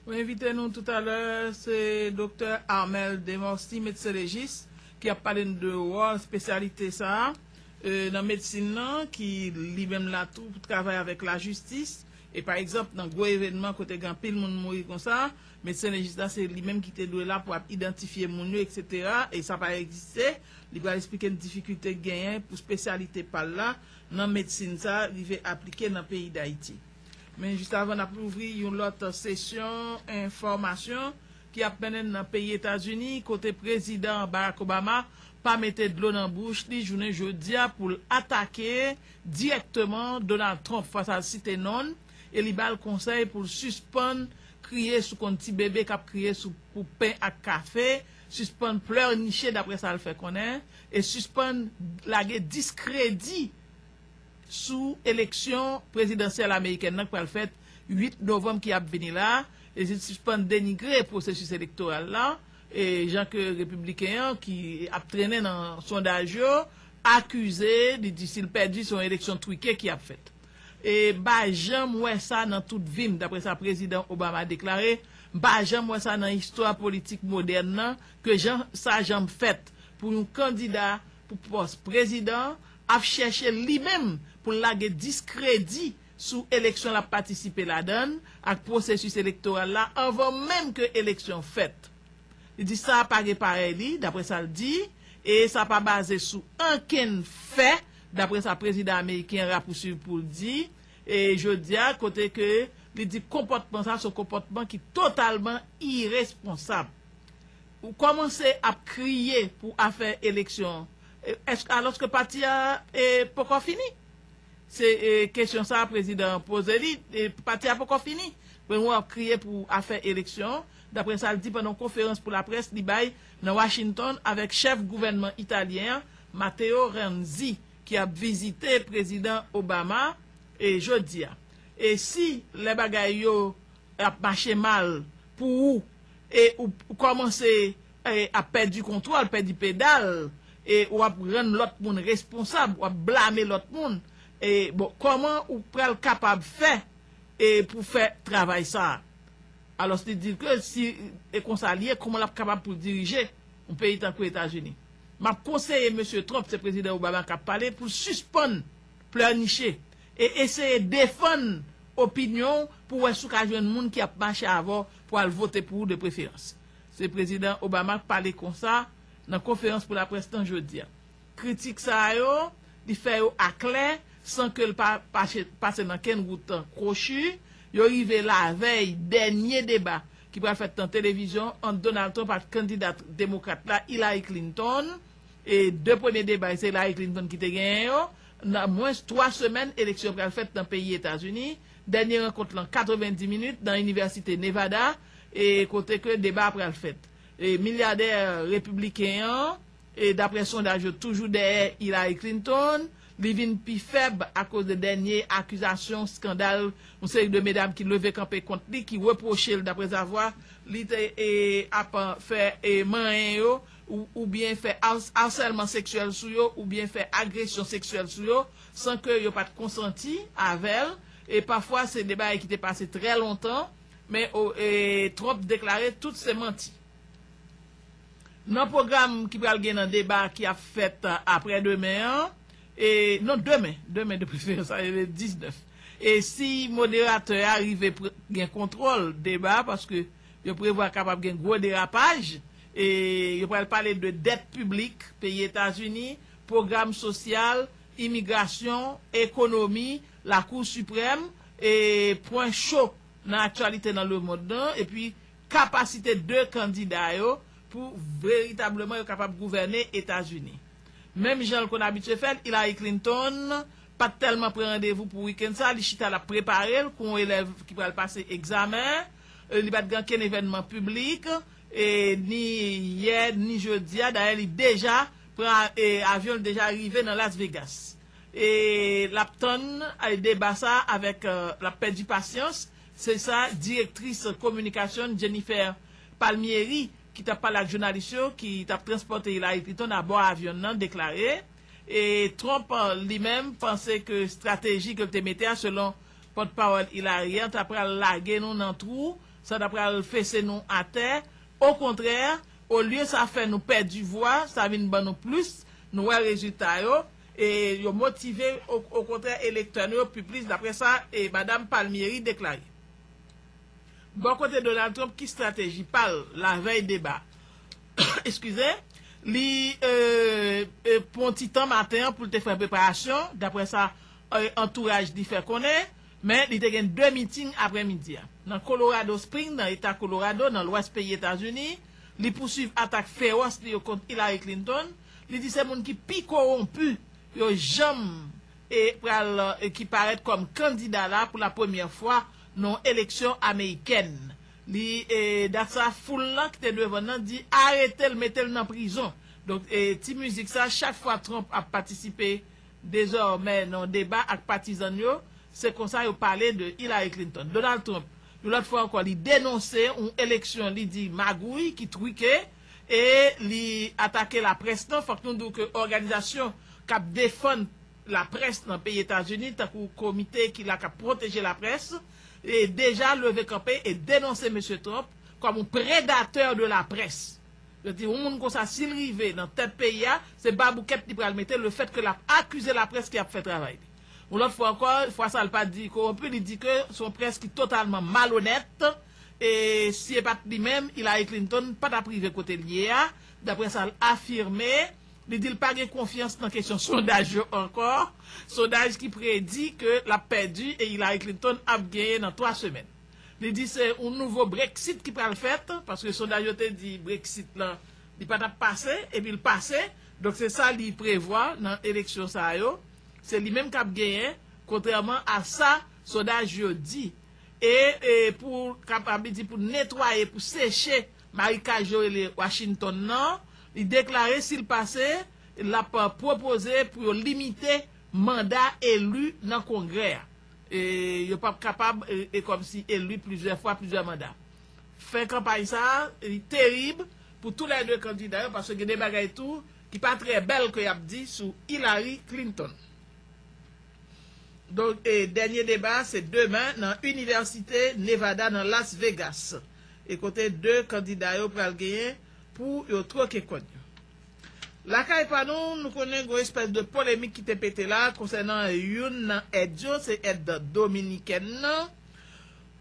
Pou envite nou toutalè se Doktè Armel Demorcy, medsen lejis, ki ap pale n de wòl spesyalite sa a nan medsin nan ki li menm la tou pou travay avèk lajistis e pa egzanp nan gwo evènman kote gen anpil moun mouri konsa medsen lejis la se li menm ki te dwe la pou ap idantifye moun yo eksetera e sa pa egziste li pral esplike n difikilte k genyen pou spesyalite pa l la nan medsin sa a rive aplike nan peyi Dayiti. Men jis avan n ap louvri yon lòt sesyon enfòmasyon ki ap mennen n nan peyi Etazini kote Prezidan Barack Obama pa mete dlo nan bouch li jounen jodi a pou l atake dirèkteman Donald Trump fwa sa l site non l e li ba l konsèy pou l sispann kriye sou konn ti bebe k ap kriye sou pou pen ak kafe, sispann plèniche daprè sa l fè konnen e sispann lage diskredi. sou eleksyon prezidansyèl amerikèn nan k pral fèt 8 novanm ki ap vini la, e si l sispann denigre pwosesis elektoral la, e jan ke repibliken an ki ap trennen nan sondaj yo akize, li di si l pèdi se yon eleksyon trike ki ap fèt. E m pa janm wè sa nan tout vi m, daprè sa prezidan Obama deklare, m pa janm wè sa nan istwa politik modèn nan ke jan sa janm fèt pou yon kandida pou pòs prezidan, ap chèche li menm pou l lage diskredi sou eleksyon l ap patisipe ladan l ak pwosesis elektoral la anvan menm ke eleksyon fèt. Li di sa pa gen parèy li, daprè sa l di, e sa pa baze sou ankenn fè, daprè sa prezidan ameriken an rapousuiv pou l di e jodi a kote ke li di konpòtman sa a se yon konpòtman ki totalman iresponsab. Ou kòmanse ap kriye pou afè eleksyon Èske alòske pati a poko fini? Se kesyon sa prezidan an poze li, pati a poko fini. Premye w ap kriye pou afè eleksyon, daprè sa l di pandan yon konferans pou laprès li bay nan Washington avèk chèf gouvènman italyen an, Matteo Renzi, ki ap vizite prezidan Obama jodi a. E si lè bagay yo ap mache mal pou ou e ou kòmanse ap pèdi kontwòl, pèdi pedal, e ou ap rann lòt moun responsab, ou ap blame lòt moun, e bon, kòman ou pral kapab fè e pou fè travay sa a? Alòs li di l ke si e konsa li ye, kòman l ap kapab pou l dirije yon peyi tankou Etazini? M ap konseye Mesye Trump, se Prezidan Obama k ap pale, pou l sispann plèniche. E eseye defann opinyon w pou wè si w ka jwenn moun ki ap mache avè w pou al vote pou ou de preferans. Se Prezidan Obama k pale konsa nan konferans pou laprès lan jodi a. Kritik sa yo, li fè yo aklè san ke l pa pase nan kenn wout kwochi, yo rive lavèy dènye deba ki pral fèt nan televizyon ant Donald Trump ak kandida demokrat la Hillary Clinton, e de premye deba se Hillary Clinton ki te genyen yo. Nan mwens 3 semèn eleksyon pral fèt nan peyi Etazini, dènye rankont lan 90 minit nan inivèsite Nevada e kote ke deba a pral fèt. E milyadè repibliken an e daprè sondaj yo toujou dèyè Hillary Clinton, li vin pi fèb akoz de dènye akizasyon skandal yon seri de medam ki leve kanpe kont li ki repwoche l daprèzavwa li te ap fè manyen yo oubyen fè arsèlman seksyèl sou yo oubyen fè agresyon seksyèl sou yo san ke yo pat konsanti avèl e pafwa se de bagay ki te pase trè lontan men Trump deklare tout se manti. Nan pwogram ki pral gen nan deba ki ap fèt aprè demen an e non demen, demen de preferans sa vle di 19 e si moderatè a rive gen kontwòl deba paske. Yo prevwa kapab gen gwo derapaj, e yo pral pale de dèt piblik peyi Etazini, pwogram sosyal, imigrasyon, ekonomi, Lakou Siprèm, e pwen cho nan aktyalite nan lemond lan, epi kapasite 2 kandida yo pou veritableman yo kapab gouvène Etazini. Menm jan l konn abitye fè l, Hillary Clinton pa t tèlman pran randevou pou wikenn sa a, li chita l ap prepare l kou yon elèv ki pral pase egzamen. Li pa t gen ankenn evènman piblik, ni yè, ni jodi a. Dayè li deja pran avyon, li deja rive nan Las Vegas. E l ap tann deba sa a avèk, l ap pèdi pasyans, se sa direktris kominikasyon Jennifer Palmieri, ki t ap pale ak jounalis yo, ki t ap transpòte Hillary Clinton abò avyon nan, deklare. E Trump li menm panse ke estrateji ke l te mete a, selon Pòt pawòl Hillary an ta pral lage nou nan twou, sa ta pral fese nou atè, okontrè, olye sa fè nou pèdi vwa, sa vin ban nou plis, nou wè rezilta yo, e yo motive, okontrè, elektè nou yo pi plis, daprè sa Madam Palmieri deklare. Bò kote Donald Trump ki strateji pa l lavèy deba a? Eskize, li pran ti tan maten an pou l te fè preparasyon, daprè sa. antouraj li fè konnen, men li te gen 2 meeting aprè midi a. Nan Colorado Spring nan eta Colorado nan lwès peyi Etazini, li pousuiv atak fewòs li yo kont Hillary Clinton, li di se moun ki pi kowonpu yo janm e pral ki parèt kòm kandida la pou la premyè fwa nan yon eleksyon amerikèn li e dat sa foul lan ki te devan nan di aretel metel nan prizon donk e ti mizik sa chak fwa Trump ap patisipe Dezòmè nan deba ak patizan n yo, se konsa yo pale de Hillary Clinton. Donald Trump, yon lòt fwa ankò, li denonse yon eleksyon li di magouy, ki truke, e li atake laprès nan. Fòk nou di w ke òganizasyon k ap defann laprès nan peyi Etazini, tankou komite ki la k ap pwoteje laprès, deja leve kanpe e denonse Mesye Trump kòm yon predatè de laprès. Yo di yon moun konsa si l rive nan tèt peyi a, se baboukèt li pral mete le fèt ke l ap akize laprès ki ap fè travay li. Yon lòt fwa ankò, fwa sa l pa di kowonpi, li di ke se yon près ki totalman malonèt e si e pat li menm, Hillary Clinton pa t ap rive kote l ye a, daprè sa l afime. Li di l pa gen konfyans nan kesyon sondaj yo ankò, sondaj ki predi ke l ap pèdi e Hillary Clinton ap genyen nan twa semèn. Li di se yon nouvo Brexit ki pral fèt, paske sondaj yo te di Brexit la li pa tap pase, epi l pase, donk se sa li prevwa nan eleksyon sa yo, se li menm kap genyen, kontrèman a sa sondaj yo di. E pou kapab li di pou netwaye, pou seche marikaj yo rele Washington nan, li deklare si l pase, lap pwopoze pou yo limite manda eli nan kongrè a. E yo pap kapab e kòmsi eli plizyè fwa, plizyè manda. Fen kanpay sa a li terib pou tou lè 2 kandida yo paske gen de bagay tou ki pa trè bèl ke y ap di sou Hillary Clinton. Donk e dènye deba a se demen nan Inivèsite Nevada nan Las Vegas e kote 2 kandida yo pral genyen pou yo twoke kòn yo. Lakay pa nou, nou konnen gon espès de polemik ki te pete la konsènan youn nan èd yo, se èd dominikèn nan.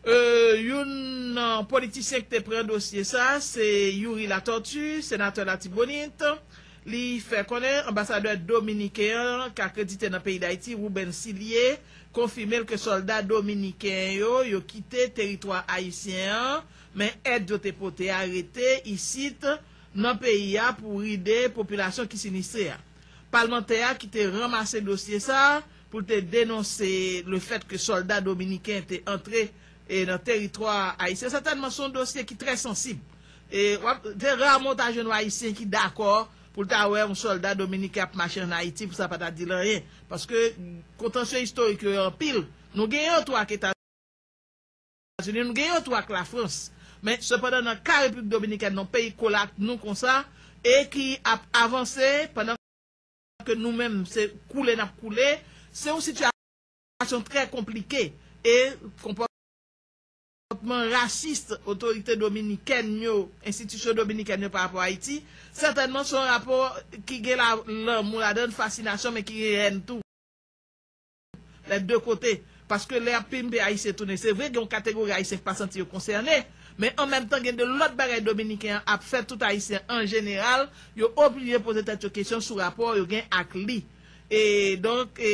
Youn nan politisyen ki te pran dosye sa, se Youri Latortue, senatè Latibonit. Li fè konnen anbasadè dominiken an ki akredite nan peyi Dayiti, Ruben Silie, konfime l ke sòlda dominiken yo, yo kite teritwa ayisyen an, men èd yo te pote a rete isit. nan peyi a pou ride popilasyon ki sinistre a. Palmantè a ki te ranmase dosye sa a pou l te denonse le fèt ke sòlda dominiken te antre nan teritwa ayisyen sètènman se yon dosye ki trè sansib. Se raman w ta jwenn yon ayisyen ki dakò pou l ta wè yon sòlda dominiken ap mache an Ayiti pou sa pa ta di l anyen paske kontansye istorik yo yo anpil. Nou gen yon tou ak Etazini. Etazini, nou gen yon tou ak Lafrans. Men, sepandan nan ka Repiblik Dominikèn, yon peyi kole ak nou konsa e ki ap avanse pandan ke nou menm se koule n ap koule, se yon sitiyasyon trè konplike e konpòtman rasis otorite dominikèn yo, enstitisyon dominikèn yo pa rapò Ayiti, sètènman se yon rapò ki gen lanmou ladan l, fasinasyon men ki gen èn tou. Les deux côtés. Paske lè yap pimpe Ayisyen tounen se vre gen yon kategori Ayisyen ki pa santi yo konsène, men an menm tan gen de lòt bagay Dominiken an ap fè tout Ayisyen an jeneral yo oblije poze tèt yo kesyon sou rapò yo gen ak li. E donk e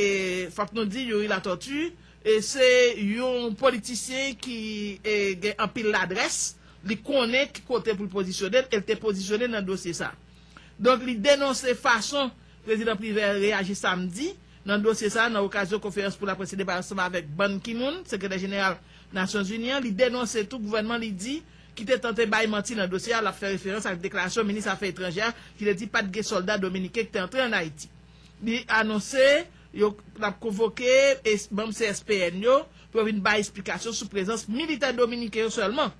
fòk nou di Youri Latortue e se yon politisyen ki e gen anpil ladrès, li konnen ki kote pou l pozisyone l e l te pozisyone nan dosye sa. Donk li denonse fason Prezidan Privert reyaji samdi. Nan dosye sa a, nan okazyon konferans pou laprès li te bay ansanm avèk Ban Ki-moon, Sekretè Jeneral Nasyonzini an, li denonse tou gouvènman li di ki te tante bay manti nan dosye a, l ap fè referans ak deklarasyon minis afè etranjè a ki te di pa t gen sòlda dominiken ki te antre ann Ayiti. Li anonse yo l ap konvoke manm CSPN yo pou yo vin bay esplikasyon sou prezans militè dominiken yo sèlman.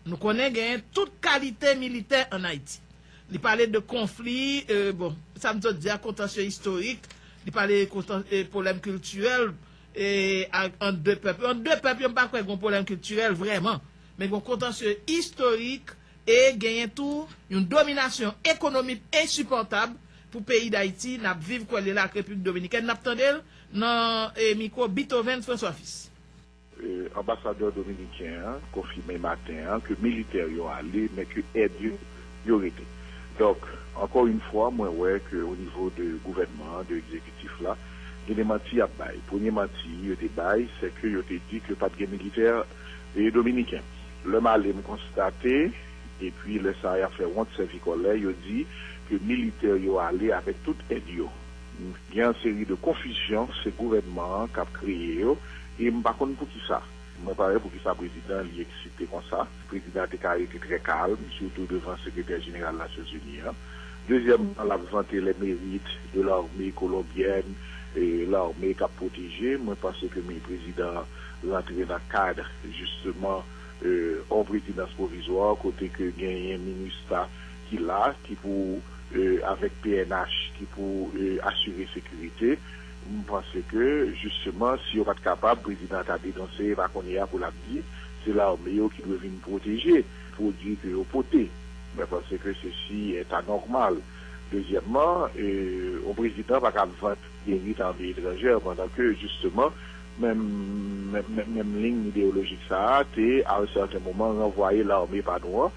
Nou konnen genyen tout kalite militè ann Ayiti. Li pale de konfli, bon, sa m sot di a, kontansye istorik, li pale de pwoblèm kiltirèl ant de pèp yo. Ant de pèp yo, m pa kwè gen yon pwoblèm kiltirèl vrèman. Men gen yon kontansye istorik e genyen tou yon dominasyon ekonomik ensipòtab pou peyi Dayiti n ap viv kole la ak Repiblik Dominikèn. N ap tande l nan mikwo Beethoven François Fils. Anbasadè dominiken an konfime maten an ke militè yo ale men ke èd yo yo rete. Donk, ankò yn fwa mwen wè ke o nivo de gouvènman an, de ekzekitif la, gen de manti y ap bay. Premye manti yo te bay se ke yo te di ke pa t gen militè dominiken. Lè m ale m konstate epi lè sa a y ap fè wont sèvi kòlè yo di ke militè yo ale avèk tout èd yo. Gen yon seri de konfizyon se gouvènman an k ap kreye yo e m pa konn poukisa. Mwen pa wè poukisa prezidan an li eksite konsa. Prezidan an te ka rete trè kalm, sitou devan sekretè jeneral Nasyonzini an. Dezyèmman, l ap vante les mérites de l'armée colombienne, lame k ap pwoteje. Mwen panse ke mi prezidan an rantre nan kad jisteman yon prezidans pwovizwa kote ke genyen minustah ki la ki pou avèk pnh ki pou asire sekirite m panse ke jisteman si yo pat kapab prezidan an ta denonse e pa kounye a pou l ap di se lame yo ki dwe vin pwoteje pwodui ke yo pote mwen panse ke sesi ta nòmal dezyèmman yon prezidan pa ka ap vant deri lame etranjè pandan ke jisteman menm menm menm menm liyn ideyolojik sa a te a yon sèten moman ranvwaye lame pa nou an.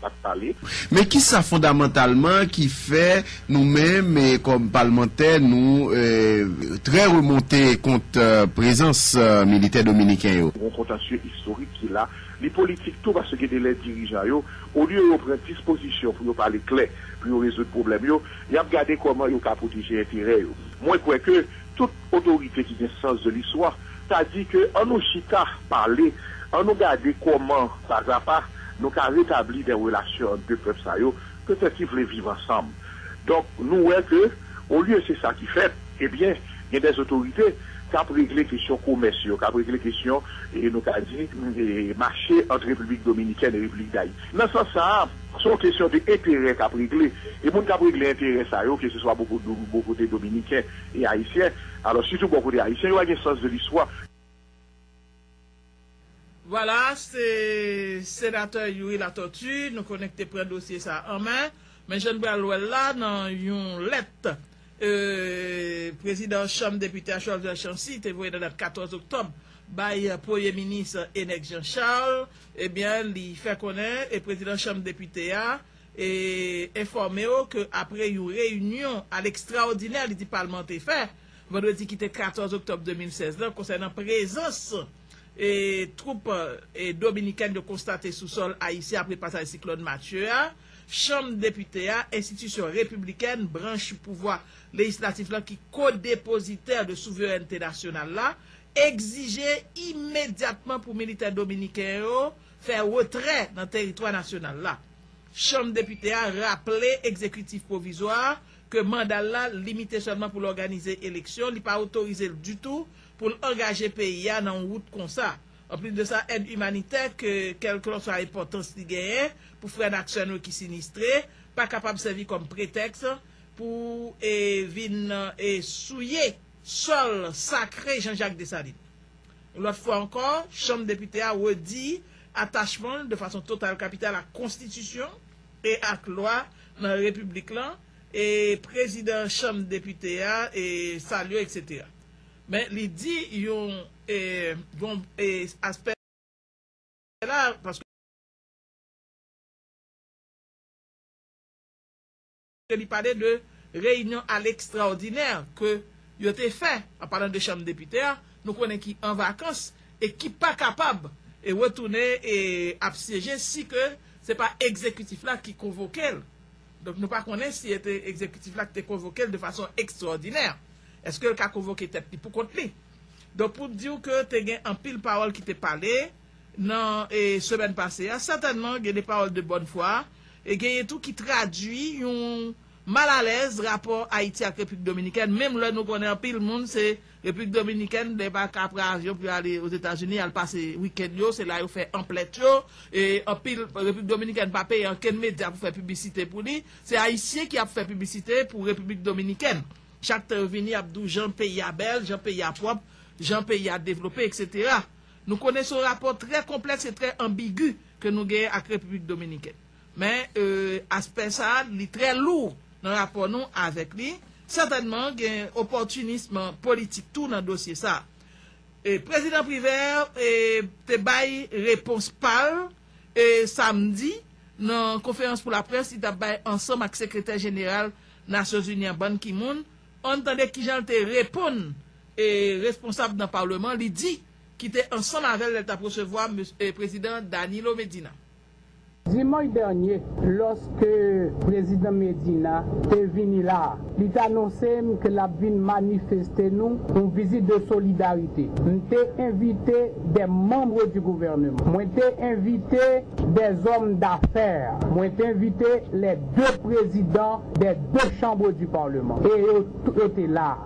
pat pale. Men kisa fondamantalman ki fè nou menm kòm palmantè nou trè remonte kont prezans militè dominiken yo? Gon kontansye istorik ki la. Li politik tou paske gen de lè dirijan yo, olye yo pran dispozisyon pou yo pale klè, pou yo rezoud pwoblèm yo, y ap gade kòman yo ka pwoteje enterè yo. Mwen kwè ke Tout otorite ki gen sans de listwa ta di ke an nou chita pale, an nou gade kòman pazapa nou ka retabli dè relasyon ant de pèp sa yo petèt ki vle viv ansanm. Donk nou wè ke olye se sa ki fèt, ebyen gen dè otorite k ap regle kesyon komès yo, k ap regle kesyon e nou ka di mache ant Repiblik Dominikèn e Repiblik Dayiti. Nan sans sa a, se yon kesyon de enterè k ap regle e moun k ap regle enterè sa yo ke se swa bò kote dominiken, e Ayisyen, alò sitou bò kote Ayisyen yo pa gen sans de listwa. Vwala, se Senatè Youri Latortue nou konnen ki te pran dosye sa a an men, men jan n pral wè l la nan yon lèt Prezidan Chanm Depite a Sholder Chancy te voye nan dat 14 oktòb bay Premye Minis Enex Jean Charles, ebyen li fè konnen Prezidan Chanm Depite a, enfòme w ke apre yon reyinyon al ekstraòdinè li di palman an te fè vandredi ki te 14 oktòb 2016 la konsènan prezans twoup dominikèn yo konstate sou sòl ayisyen apre pasaj siklòn Matthew a, chanm depite a, enstitisyon repiblikèn, branch pouvwa lejislatif la ki ko-depozitè de souverènte nasyonal la, egzije imedyatman pou militè dominiken yo fè retrè nan teritwa nasyonal la. Chanm Depite a raple Egzekitif Pwovizwa a ke manda l la limite sèlman pou l òganize eleksyon, li pa otorize l ditou pou l angaje peyi a nan yon wout konsa. Anplis de sa, èd imanitè, ke kèlklanswa enpòtans li genyen pou frè n ak sè n yo ki sinistre, pa kapab sèvi kòm pretèks pou vin souye sòl sakre Jean-Jacques Dessalines. Yon lòt fwa ankò, Chanm Depite a redi atachman l de fason total kapital ak konstitisyon e ak lwa nan Repiblik lan, e Prezidan Chanm Depite a salye yo, eksetera. Men li di yon bon aspè la a. e li pale de reyinyon a lekstraòdinè ke yo te fè, an palan de chanm depite a, nou konnen ki an vakans e ki pa kapab e retounen e ap syeje si ke se pa ekzekitif la ki konvoke l. Donk nou pa konnen si e te ekzekitif la ki te konvoke l de fason ekstraòdinè. Eske l ka konvoke tèt li pou kont li? Donk pou di w ke te gen anpil pawòl ki te pale. nan semèn pase a, sètènman gen de pawòl de bòn fwa, e genyen tou ki tradui yon malalèz rapò Ayiti ak Repiblik Dominikèn, menm lè nou konnen anpil moun se Repiblik Dominikèn lè yo pa ka pran avyon pou yo ale Ozetazini al pase wikenn yo, se la yo fè anplèt yo, e anpil Repiblik Dominikèn pa peye ankenn medya pou fè piblisite pou li, se Ayisyen ki ap fè piblisite pou Repiblik Dominikèn chak tan yo vini ap di w jan peyi a bèl, jan peyi a pwòp, jan peyi a devlope, eksetera. Nou konnen son rapò trè konplèks e trè anbigu ke nou genyen ak Repiblik Dominikèn. Men, aspè sa a, li trè lou nan rapò nou avèk li. Sètènman, gen opòtinism politik tou nan dosye sa a. Prezidan Privert te bay repons pa l samdi nan konferans pou laprès li t ap bay ansanm ak Sekretè Jeneral Nasyonzini an, Ban Ki-moon. Ann tande kijan l te reponn. responsab nan Paleman li di ki te ansanm avè l lè l t ap resevwa M. Prezidan Danilo Medina. Dimanch dènye, lòske Prezidan Medina te vini la a, li t anonse m ke l ap vin manifeste nou yon vizit de solidarite. M te envite des membres du gouvernement, mwen te envite des hommes d'affaires, mwen te envite les deux Présidents des deux chambres du Parlement, e yo tout te la.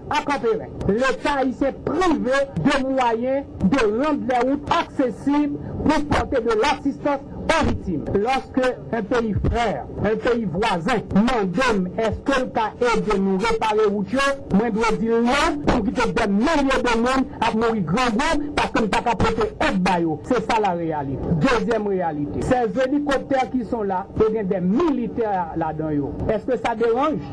a Kanperen. Leta ayisyen prive de mwayen de rand lè wout aksesib pou pote de lasistans o viktim. Loske en peyi frè, en peyi vwazen, mande m eske l ka ede nou repare wout yo, mwen dwe di l non pou m kite dè milye de moun ap mouri grangou paske m pa ka pote èd ba yo. Se sa la reyalit. Dezyèm reyalite, sèz elikoptè ki son la, yo gen dè militè ladan yo. Eske sa deranj?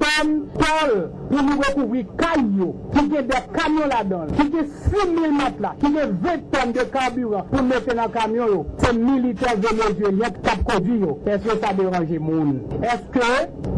Pam, Paul, pou nou rekouvri kay yo ki gen dè kamyon ladan l, ki gen 6 mil matla, ki gen 20 tòn de karbiran pou mete nan kamyon yo, se militè Venezyelyen k ap kondui yo. Èske sa deranje moun? Èske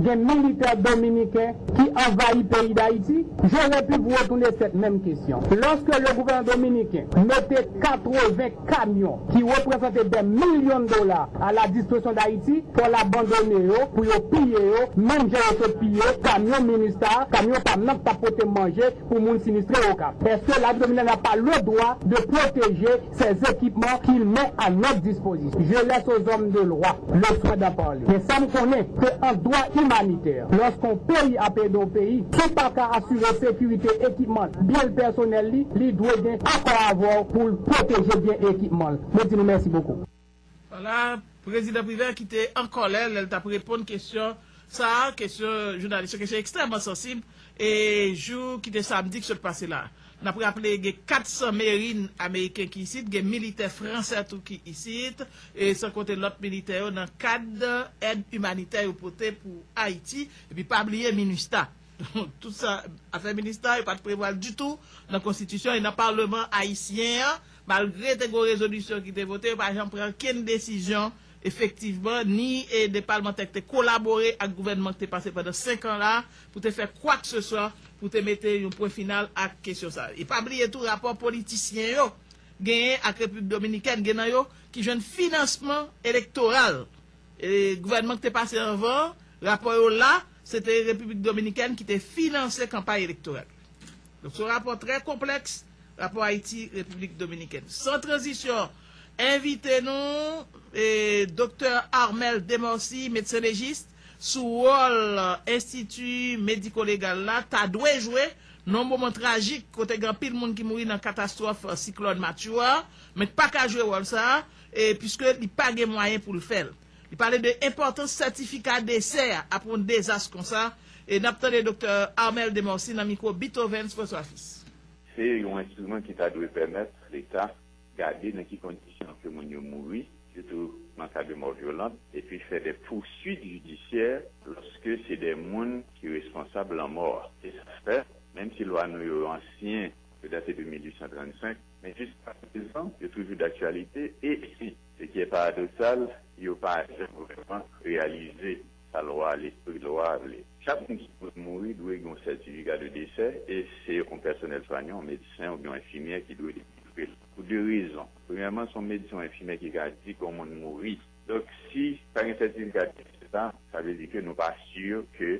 gen militè dominiken ki anvayi peyi Dayiti? J'aurais pu vous retourner cette même question. Lòske le gouvènman dominiken mete 80. Kamyon, ki reprezante dè milyon dola a la dispozisyon Dayiti, pòl abandone yo, pou yo piye yo, menm jan yo sot piye kamyon Minustah, kamyon pam nan k t ap pote manje pou moun sinistre Okap. Eske Lari Dominikèn a pa le dwa de pwoteje sè zekipman ki l men a nòt dispozisyon? Je lès o zòm de lwa le swen dan parle. Men sa m konnen, ke an dwa imanitè, Lòske yon peyi ap ede yon peyi ki pa ka asire sekirite ekipman l, byen l, pèsonèl li, li dwe gen akò avè w pou l pwoteje byen e ekipman l. Mwen di nou mèsi bokou. Wala, Prezidan Privert ki te an kòlè lè l t ap reponn kesyon sa a, kesyon jounalis yo, kesyon ekstrèman sansib, e jou ki te samdi ki sot pase la a. N ap raple gen 400 merin ameriken ki isit, gen militè fransè tou ki isit, san konte lòt militè yo nan kad èd imanitè yo pote pou Ayiti. Epi pa bliye minustah. Donk tout sa, afè minustah yo pa t prevwa l ditou nan konstitisyon e nan palman ayisyen an, malgre te gen yon rezolisyon ki te vote, yo pa janm pran okenn desizyon Efektivman, ni de palmantè ki te kolabore ak gouvènman ki te pase pandan 5 an la pou te fè kwakseswa pou te mete yon pwen final ak kesyon sa. E pa bliye tou rapò politisyen yo genyen ak Repiblik Dominikèn, gen nan yo ki jwenn finansman elektoral gouvènman ki te pase anvan an, rapò yo la, se te Repiblik Dominikèn ki te finanse kanpay elektoral yo. Donk se yon rapò trè konplèks. Rapò Ayiti, Repiblik Dominikèn San Tranzisyon envite nou Doktè Armel Demorcy, medsen lejis, sou wòl Enstiti Mediko-Legal la ta dwe jwe nan yon moman trajik kote gen anpil moun ki mouri nan katastwòf siklòn Matthew a, men k pa ka jwe wòl sa a puiske li pa gen mwayen pou l fè l. Li pale de enpòtans sètifika desè a apre yon dezas konsa. N ap tande Doktè Armel Demorcy nan mikwo Bithowens François Fils. Se yon enstriman ki ta dwe pèmèt Leta gade nan ki kondisyon ke moun yo mouri, sitou nan ka de mò vyolant, epi fè de pousuit jidisyè lòske se de moun ki responsab lanmò a. Se sa k fè, menm si lwa nou yo ansyen, yo date de 1835, men jiskaprezan yo toujou daktyalite e, se ki e paradoksal, yo pa janm vrèman reyalize. Sa lwa lespri lwa a vle. Chak moun ki pral mouri dwe gen yon sètifika de desè e se yon pèsonèl swanyan, yon medsen oubyen yon enfimyè ki dwe delivre l. Pou 2 rezon. Premyèman, se yon medsen ou enfimyè ki ka di ke yon moun mouri. Donk, si pa gen sètifika de desè sa, sa vle di ke nou pa si ke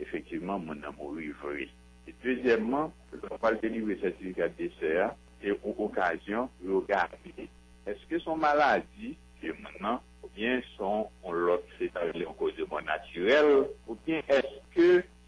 efektivman moun nan mouri vre. E dezyèmman, lè ou pral delivre sètifika de desè a, se yon okazyon pou yo gade èske se yon maladi ke moun nan. Oubyen son on lòt se sa yo rele on koz de mò natirèl? Oubyen eske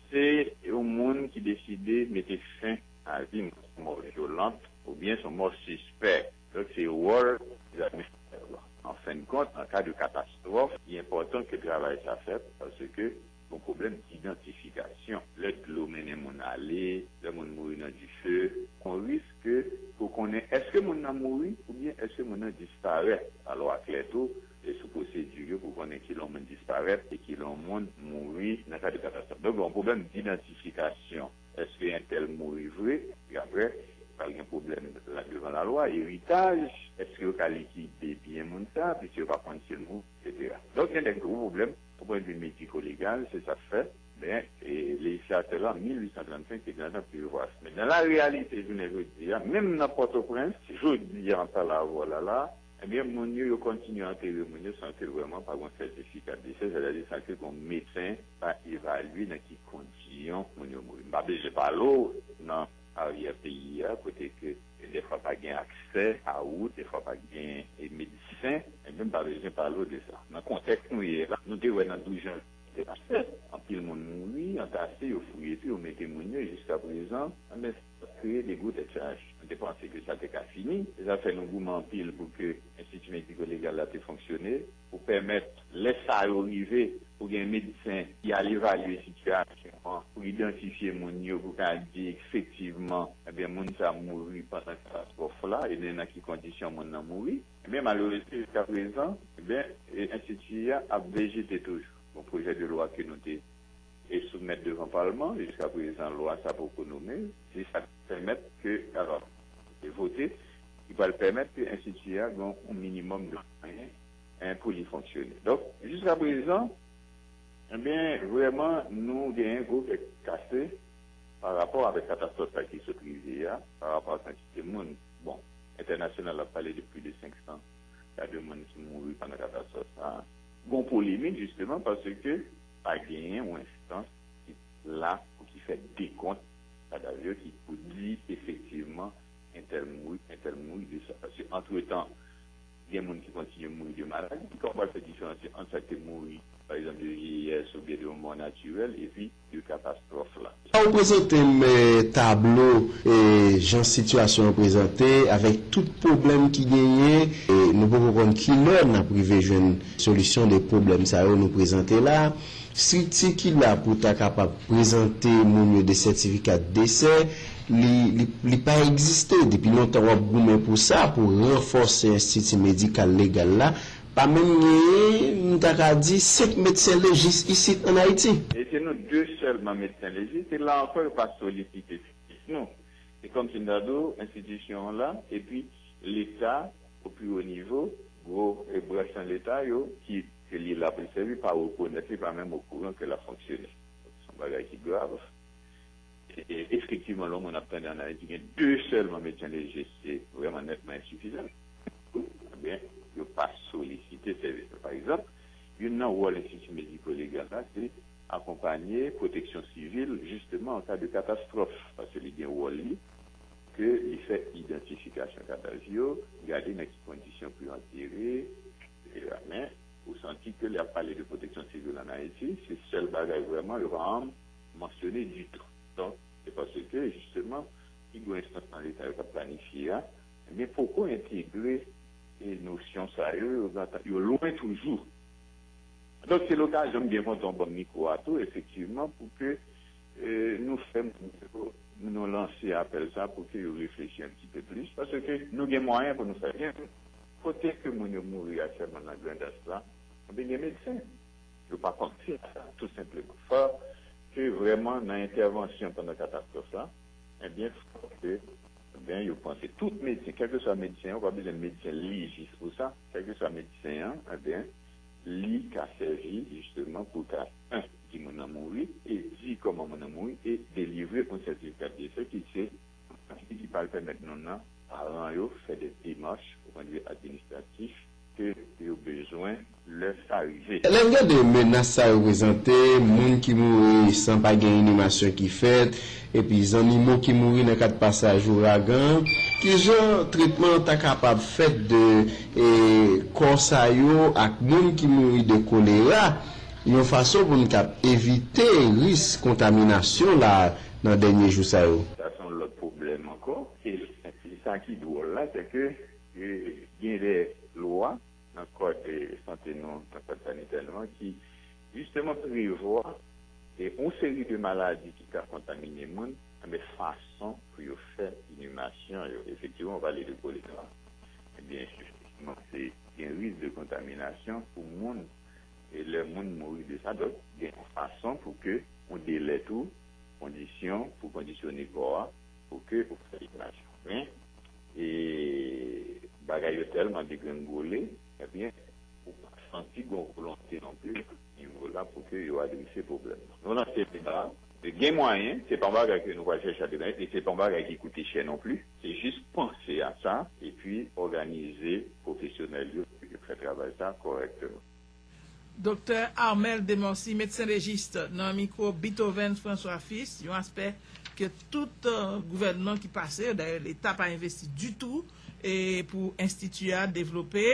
se yon moun ki deside mete fen a li nan son mò vyolant oubyen son mò sispè? Donk se wòl egzamen sa yo. An fen de kont, an ka de katastwòf, li enpòtan ke travay sa fèt paske. Pou pwoblèm idantifikasyon, lè dlo mennen moun ale, lè moun mouri nan dife, on risk ke pou konnen èske moun nan mouri oubyen èske moun nan disparèt. Lalwa klè tou sou pwosedi yo pou konnen ki lè on moun disparèt e ki lè on moun mouri nan kad yon katastwòf. Donk, lè on pwoblèm idantifikasyon, èske entèl mouri vre? Epi aprè, pral gen pwoblèm devan lalwa, eritaj, èske yo ka likide byen moun sa, piske yo pa konn si l mouri, eksetera. Donk, gen de gwo pwoblèm. Sou pwen de vi mediko-legal, se sa k fè, men, lejislatè lan, 1835, te gentan prevwa sa. Men, nan la reyalite jounen jodi a, menm nan Pòtoprens, jodi a, an pale avè w la la a, ebyen, moun yo, yo kontinye antere moun yo san ke vrèman pa gon sètifika desè, sètadi san ke gon medsen pa evalye nan ki kondiyon moun yo mouri. M pa bezwen pale w nan. aryè peyi a kote ke defwa pa gen aksè a wout, defwa pa gen medsen, menm pa bezwen pale w de sa nan kontèks nou ye la, nou te wè nan 12 janvye 2007 anpil moun mouri, antase, yo fouye tou, yo mete moun yo jiska prezan, enben sa kreye de gwo tèt chaje, nou te panse ke sa te ka fini, se sa k fè nou goumen anpil pou ke enstiti mediko legal la te fonksyone. pou pèmèt lè sa yo rive pou gen medsen ki al evalye sitiyasyon an pou idantifye moun yo pou ka di efektivman ebyen moun sa mouri pandan katastwòf la ebyen nan ki kondisyon moun nan mouri ebyen malerezman jiska prezan ebyen enstiti a ap vejete toujou gon pwojè de lwa ke nou te e soumèt devan palman jiska prezan lwa sa poko nome se sa ki pèmèt ke alò e vote ki pral pèmèt ke enstiti a gon yon minimòm de. Hein pou li fonksyone. Donk jiska prezan ebyen vreman nou genyen gwo kè kase pa rapò avèk katastwòf sa ki sot rive a, pa rapò ak kantite moun bon entènasyonal ap pale de plis de 500 ka de moun ki mouri pandan katastwòf sa. Gon polemik jisteman paske pa genyen yon enstans ki la pou ki fè dekont kadav yo ki pou di efektivman entèl mouri, entèl mouri de sa. Paske antretan Gen moun ki kontinye mouri de maladi. Ki sa w pral fè diferansye ant sa k te mouri, pa egzanp, de vyeyès oubyen de yon mò natirèl epi de katastwòf la? Fè w prezante m tablo jan sitiyasyon an prezante avèk tout pwoblèm ki genyen. Nou poko konn kilè n ap rive jwenn solisyon de pwoblèm sa yo nou prezante la. Strikti ki la pou ta kapab prezante moun yo de sètifika desè, li, li, li pa egziste. Depi lontan w ap goumen pou sa, pou ranfòse enstiti medikal legal la, pa menm genyen, m ta ka di, senk medsen lejis isit ann Ayiti. E se nou de sèlman medsen lejis, e la ankò yo pa solisite efektif nou. Se kòm si m ta di w enstitisyon an la, epi Leta o pi wo nivo, gwo branch nan Leta yo ki Ke li la pou l sèvi pa rekonèt, li pa menm okouran ke l ap fonksyone. Se yon bagay ki grav. E efektivman lè yon moun ap tande an Ayiti gen 2 sèlman medsen leje se vrèman nètman ensifizan. Ebyen yo pa solisite sèvis yo. Pa egzanp, youn nan wòl enstiti mediko legal la se akonpanye pwoteksyon sivil jisteman an ka de katastwòf paske li gen wòl li ke li fè idantifikasyon kadav yo, gade nan ki kondisyon pou yo antere, Men, ou santi ke lè y ap pale de pwoteksyon sivil an Ayiti, se sèl bagay vrèman yo pa anm mansyone ditou. Donk, se paske jisteman pi gwo enstans nan Leta yo k ap planifye a, enben poko entegre nosyon sa yo, yo gentan, yo lwen toujou. Donk, se lokazyon m byen kontan ou ban m mikwo a tou efektivman pou ke nou fè moun yo, nou lanse apèl sa pou ke yo reflechi enn ti pe plis paske nou gen mwayen pou nou fè byen. Kote ke moun yo mouri aktyèlman nan Grandans lan, anben gen medsen. Yo pa panse a sa tou senpleman. Fòk ke vrèman nan entèvansyon pandan katastwòf lan, anben fòk ke, anben yo panse tout medsen, kèlkeswa medsen an, ou pa bezwen medsen lejis pou sa, kèlkeswa medsen an, anben li ka sèvi jisteman pou ta, 1 di moun nan mouri, e di kòman moun nan mouri, e delivre yon sètifika de dese ki se. Atik ki pral pèmèt nou nan paran yo fè de demach o pwen de vi administratif ke yo bezwen lè sa rive. Lè gen de menas sa reprezante, moun ki mouri san pa gen inimasyon ki fèt, epi zannimo ki mouri nan kad pasaj ouragan, ki jan tretman ta kapab fèt de kò sa yo ak moun ki mouri de kolera yon fason pou n kab evite ris kontaminasyon la? nan dènye jou sa yo. Sa se yon lòt pwoblèm ankò. E sa ki dwòl la, se ke gen de lwa nan kòd sante nou, nan kòd sanitè nou an ki jisteman prevwa yon seri de maladi ki ka kontamine moun, enben fason pou yo fè inimasyon yo. Efektivman, ou pale de kolera, enben efektivman se gen risk de kontaminasyon pou moun E lè moun mouri de sa, donk gen yon fason pou ke ou delè tou kondisyon pou kondisyone kò a pou ke ou fè libération. Men, e bagay yo tèlman degrenngole, ebyen ou pa santi gon volonte non pli nivo la pou ke yo adrese pwoblèm nan. Nou lanse deba a, gen mwayen, se pa yon bagay ke nou pral chèche a demen e se pa yon bagay ki koute chè non pli. Se jis panse a sa epi òganize pwofesyonèl yo pou yo fè travay sa kòrèkteman. Doktè Armel Demorcy, medsen legist, nan mikwo Beethoven François Fils, yon aspè ke tout gouvènman ki pase yo, dayè Leta pa envesti ditou pou enstiti a devlope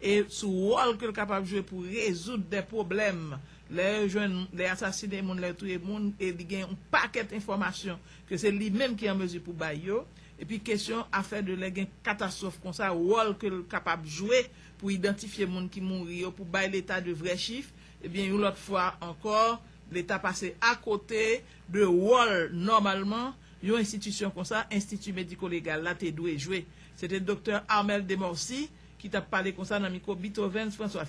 e sou wòl ke l kapab jwe pou rezoud dè pwoblèm lè yo jwenn, lè yo asasine moun, lè yo touye moun e li gen yon pakèt enfòmasyon ke se li menm ki an mezi pou bay yo, epi kesyon afè de lè gen katastwòf konsa wòl ke l kapab jwe pou idantifye moun ki mouri yo pou bay leta de vrè chif, ebyen yon lòt fwa ankò leta pase akote de wòl nòmalman yon enstitisyon konsa, Enstiti Mediko Legal la, te dwe jwe. Se te Doktè Armel Demorcy ki t ap pale konsa nan mikwo Bith Ovens François.